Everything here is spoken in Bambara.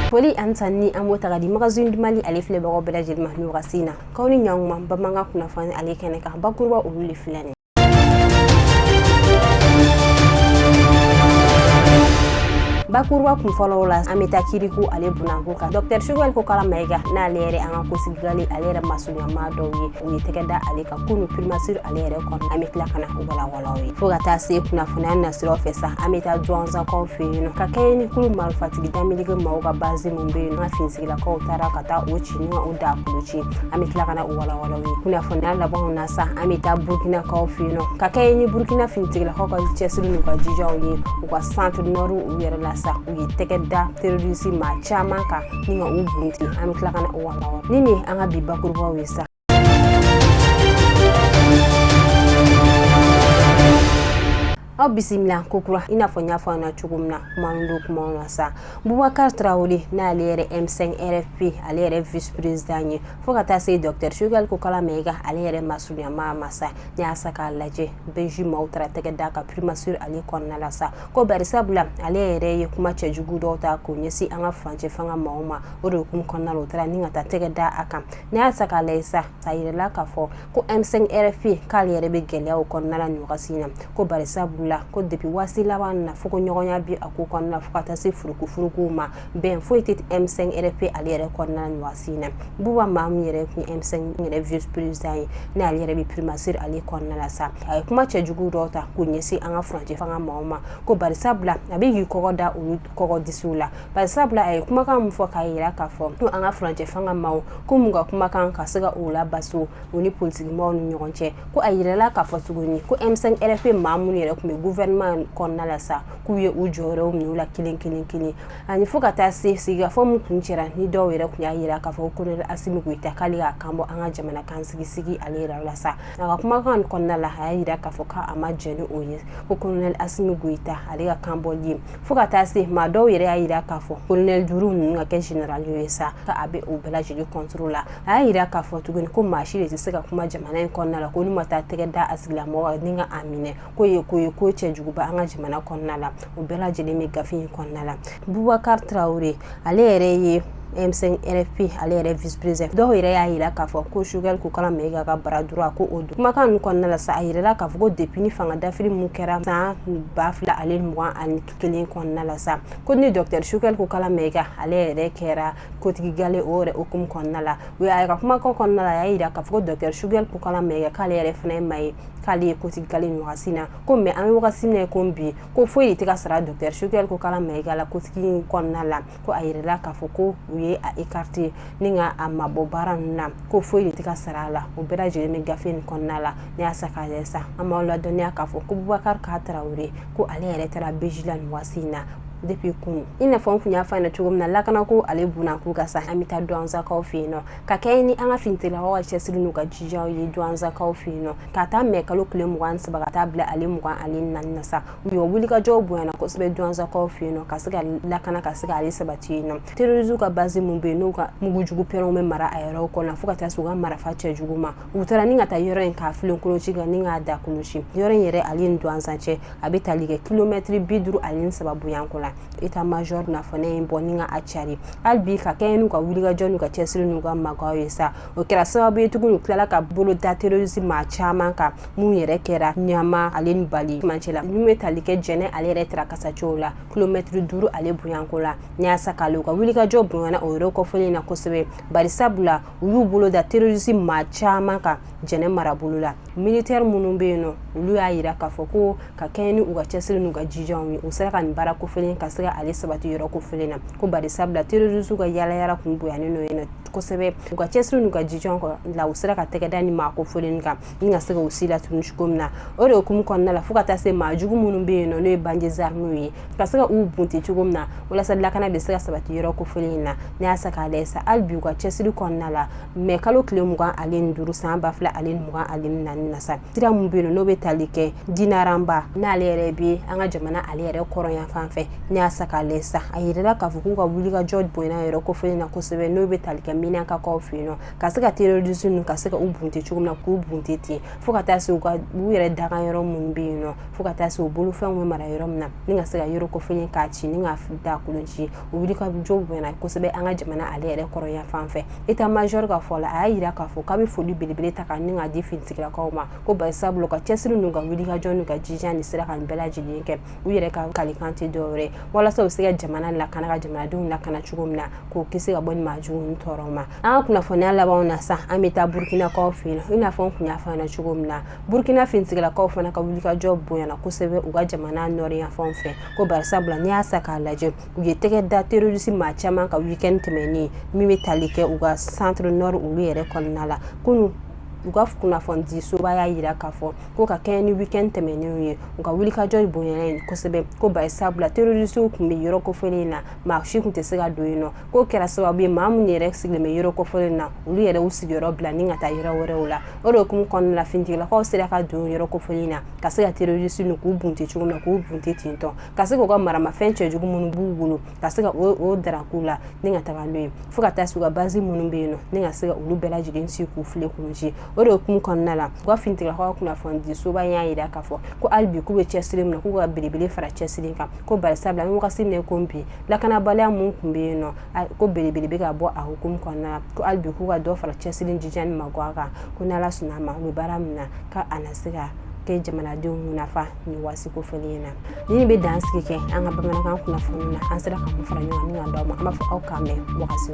foli ani tanuni an b'o ta ka di magazine mali ale filɛbagaw bɛɛ lajɛlen ma nin wagati in na k'aw ni ɲɔgɔn ma bamanankan kunnafoni ale kɛnɛ kan bakuruba olu le filɛ nin bakuruba kun fɔlɔw la an bɛ taa kiriko ale bulon na ko kan dɔktɛr choguel kokala mayiga n'ale yɛrɛ an ka kɔsigi gale ale yɛrɛ maso ɲa maa dɔw ye u ye tɛgɛ da ale kan kunun primature ale yɛrɛ kɔnɔ an bɛ tila ka na u walawalaw ye fo ka taa se kunnafoniya nasiraw fɛ sa an bɛ taa duwanzakaw fɛ yen nɔ ka kɛɲɛ ni kulu marifatigi damelege maaw ka bazi min bɛ yen an ka finitigilakaw taara ka taa o ci ni o da kulu ci an bɛ tila ka na u walawalaw ye kunnafoniya labanw na sa an bɛ taa burukinakaw fɛ yen nɔ ka kɛɲɛ ni burukina finitigilakaw ka cɛsiri n'u ka jijaw ye u ka centre nord u yɛrɛ la sa u ye tɛgɛ da terorisi maa caman kan ni ka u bunti an bɛ tila ka na u nin ye an ka bi bakurubaw ye sa aw bisimila kokura i n'a fɔ n y'a fɔ an na cogo min na kuma min don kumaw na sa bubakar tarawele n'ale yɛrɛ m5 rfp ale yɛrɛ vice président ye fo ka taa se docteur choguel kokala mayiga ale yɛrɛ masurunya maa ma sa n'i y'a ta k'a lajɛ bij maaw taara tɛgɛ da a kan primature ale kɔnɔna la sa ko barisabula ale yɛrɛ ye kuma cɛjugu dɔw ta k'o ɲɛsin an ka furancɛ fanga maaw ma o de hukumu kɔnɔna la o taara ni ka taa tɛgɛ da a kan n'i y'a ta k'a lajɛ sa a jirala k'a fɔ ko m5 rfp k'ale yɛrɛ bɛ gɛlɛyaw kɔnɔna na nin wagati in na ko bari sabula ko depuis waati laban na fɔkɔɲɔgɔnya bɛ a ko kɔnɔna fo ka taa se furufuuruuruugu ma bɛn foyi tɛ m5 rfp ale yɛrɛ kɔnɔna nin wagati in na buba maa min yɛrɛ tun m5 yɛrɛ vice président ye ni ale yɛrɛ bɛ primature ale kɔnɔna la sa a ye kuma cɛjugu dɔw ta k'o ɲɛsin an ka furancɛ fanga maaw ma ko bari sabula a bɛ k'i kɔgɔ da u kɔgɔ disiw la Bari sabula a ye kumakan min fɔ k'a jira k'a fɔ ko an ka furancɛ fanga maaw ko mun ka kumakan ka se ka o la bas u ni politiki maaw ni ɲɔgɔn cɛ ko a jirala k'a fɔ tuguni ko m5 rfp maa minnu yɛrɛ tun bɛ gouvernement kɔnɔna la sa k'u ye u jɔyɔrɔw minɛ u la kelen kelen kelen ani fo ka taa se sigikafɔ min tun kɛra ni dɔw yɛrɛ tun y'a jira k'a fɔ ko kolonɛli asimi goyita k'ale y'a kanbɔ an ka jamana kuntigi sigi ale yɛrɛ la sa a ka kumakan kɔnɔna la a y'a jira k'a fɔ k'a ma jɛn n'o ye ko kolonɛli asimi goyita ale ka kanbɔli ye fo ka taa se maa dɔw yɛrɛ y'a jira k'a fɔ kolonɛli duuru ninnu ka kɛ jenerali ye sa ka a bɛ o bɛɛ lajɛlen contre la a y'a jira k'a fɔ tuguni ko maa si de tɛ se ka kuma jamana in kɔnɔna la ko n'u ma taa tɛgɛ da a tigilamɔgɔ kan ni ka a minɛ k'o ye ko ye ko cɛjuguba an ka jamana kɔnɔna la o bɛɛ lajɛlen bɛ gafe in kɔnɔna la bubakari tarawele ale yɛrɛ ye M5 RFP ale yɛrɛ vice président dɔw yɛrɛ y'a jira k'a fɔ ko Choguel Kokalla Maïga baara dɔrɔn a ko o don kumakan ninnu kɔnɔna la sa a jirala k'a fɔ ko depuis ni fanga dafiri min kɛra san ba fila ale ni mugan ani kelen kɔnɔna la sa ko ni docteur Choguel Kokalla Maïga ale yɛrɛ kɛra kotigigale o yɛrɛ hukumu kɔnɔna la o y'a ka kumakan kɔnɔna la a y'a jira k'a fɔ docteur Choguel Kokalla Maïga k'ale yɛrɛ fana ye maa ye k'ale ye kotigigale nin wagati na ko mɛ an bɛ wagati min na ko bi ko foyi tɛ ka sara docteur Choguel Kokalla Maïga la kotigi kɔnɔna la ko a jirala k'a fɔ ko u ye a écarté ni ka a mabɔ baara ninnu na ko foyi tɛ ka sara a la o bɛɛ lajɛlen bɛ gafe in kɔnɔna la n'i y'a sa k'a lajɛ sa an b'aw ladɔnniya k'a fɔ ko Bubakari K Tarawele ko ale yɛrɛ taara BIJ la nin waati in na depuis kunun i n'a fɔ n tun y'a fɔ ɲɛna cogo min na lakana ko ale bonyanko kan sa an bɛ taa Duwanzakaw fɛ yen nɔ ka kɛɲɛ ni an ka finitigilakaw ka cɛsiri n'u ka jijaw ye Duwanzakaw fɛ yen nɔ k'a ta mɛ kalo tile mugan saba ka taa bila ale mugan ale ni naani na sa u ye wulikajɔw bonyana kosɛbɛ Duwanzakaw fɛ yen nɔ ka se ka lakana ka se ka ale sabati yen nɔ terɔrisi ka basi minnu bɛ yen n'u ka mugujugu pɛrɛnw bɛ mara a yɔrɔ kɔnɔ fo ka taa se u ka marifa cɛjugu ma u taara ni ka taa yɔrɔ in k'a filen kolon ci kan ni k'a daa kolon ci yɔrɔ in yɛrɛ ale ni Duwanza cɛ a bɛ tali kɛ kilomɛtiri bi duuru ani saba bonyanko la état major na fɔlen in bɔ ni ka a cari hali bi ka kɛɲɛ n'u ka wulikajɔ n'u ka cɛsiri n'u ka maganw ye sa o kɛra sababu ye tuguni u tilala ka bolo da terɔrisi maa caman kan min yɛrɛ kɛra ɲama ale ni bali cɛ la n'u ye tali kɛ jɛnɛ ale yɛrɛ taara kasacogo la kilomɛtiri duuru ale bonyanko la n'i y'a sa k'a lajɛ u ka wulikajɔ bonyana o yɔrɔ kofɔlen in na kosɛbɛ bari sabula u y'u bolo da terɔrisi maa caman kan jɛnɛ marabolo la militeri minnu bɛ yen nɔ olu y'a jira k'a fɔ ko ka kɛɲɛ ni u ka cɛsiri n'u ka jijaw ye u sera ka nin baara kofɔlen ka se ka ale sabati yɔrɔ kofɔlen na ko bari sabula terɔrisi ka yaalayaala tun bonyanen don yen nɔ kosɛbɛ u ka cɛsiri n'u ka jija kɔ la u sera ka tɛgɛ da ni maa kofɔlen kan ni ka se k'u si latunu cogo min na o de hukumu kɔnɔna la fo ka taa se maa jugu minnu bɛ yen nɔ n'o ye bandits armés ye ka se ka u bunte cogo min na walasa lakana bɛ se ka sabati yɔrɔ kofɔlen in na n'i y'a sa k'a lajɛ sa hali bi u ka cɛsiri kɔnɔna la mɛ kalo tile mugan ale ni duuru san ba fila ale ni mugan ale ni naani na sa sira min bɛ yen nɔ n'o bɛ tali kɛ dinaranba n'ale yɛrɛ bɛ an ka jamana ale yɛrɛ kɔrɔn yanfan fɛ n'i y'a sa k'a lajɛ sa a yirala k'a fɔ k'u ka wulikajɔ bonyana yɔrɔ kofɔlen na kosɛbɛ n'o bɛ tali kɛ Menakakaw fɛ yen nɔ ka se ka terɔrisi ninnu ka se ka u bunte cogo min na k'u bunte ten fo ka taa se u ka u yɛrɛ daga yɔrɔ minnu bɛ yen nɔ fo ka taa se u bolofɛnw bɛ mara yɔrɔ min na ni ka se ka yɔrɔ kofɔlen k'a ci ni k'a daa kolon ci u ka wulikajɔ bonyana kosɛbɛ an ka jamana ale yɛrɛ kɔrɔn yanfan fɛ état major ka fɔ la a y'a jira k'a fɔ k'a bɛ foli belebele ta ka ni k'a di finitigilakaw ma ko bari sabula u ka cɛsiri n'u ka wulikajɔ n'u ka jija ni sera ka nin bɛɛ lajɛlen kɛ u yɛrɛ ka kalikan tɛ dɔwɛrɛ walasa u se ka jamana lakana ka jamanadenw lakana cogo min na k'u kisi ka bɔ nin maajugu tɔɔrɔ ma an ka kunnafoniya labanw na sa an bɛ taa burukinakaw fɛ yen i n'a fɔ n kun y'a fɔ an cogo min na burukina finitigilaakaw fana ka wulikajɔ bonyana kosɛbɛ u ka jamana nɔri yanfan fɛ ko barisabula n'i y'a sa k'a lajɛ u ye tɛgɛ da terɔrisi maa caman kan wikɛn tɛmɛnen min bɛ tali kɛ u ka centre nord olu yɛrɛ kɔnɔna la kunun u ka kunnafonidi soba y'a jira k'a fɔ ko ka kɛ ni wikɛn tɛmɛnen ye u ka wulikajɔ bonyana kosɛbɛ ko barisabula terɔrisiw kun bɛ yɔrɔ kofɔlen in na maa si kun tɛ se ka don yen nɔ k'o kɛra sababu ye maa minnu yɛrɛ sigilen bɛ yɔrɔ kofɔlen na olu yɛrɛ u sigiyɔrɔ bila ni ka taa yɔrɔ wɛrɛw la o de hukumu kɔnɔna la finitigilakaw sera ka don yɔrɔ kofɔlen na ka se ka terroriste ninnu k'u bunte cogo min na k'u bunte ten tɔ ka se k'u ka maramafɛn cɛjugu minnu b'u bolo ka se ka o daraku la ni ka taga n'o ye fo ka taa se u ka base minnu bɛ yen nɔ ni ka se ka olu bɛɛ lajɛlen si k'u file k'u ci o de hukumu kɔnɔna la u ka finitigilakaw kunnafonidisoba y'a jira k'a fɔ ko hali bi k'u bɛ cɛsiri min na k'u ka belebele fara cɛsiri kan ko barisabula wagati min ko bi lakanabaliya minnu kun bɛ yen nɔ ko belebele bɛ ka bɔ a hukumu kɔnɔna la ko hali bi k'u ka dɔ fara cɛsiri jija ni magan kan ko ni ala sɔnna a ma u bɛ baara min na k'a na se ka kɛ jamanadenw nafa ni waati kofɔlen in na nin bɛ dansigi kɛ an ka bamanankan kunnafoni na an sera ka fara ɲɔgɔn kan d'a ma an b'a fɔ aw k'an mɛn wagati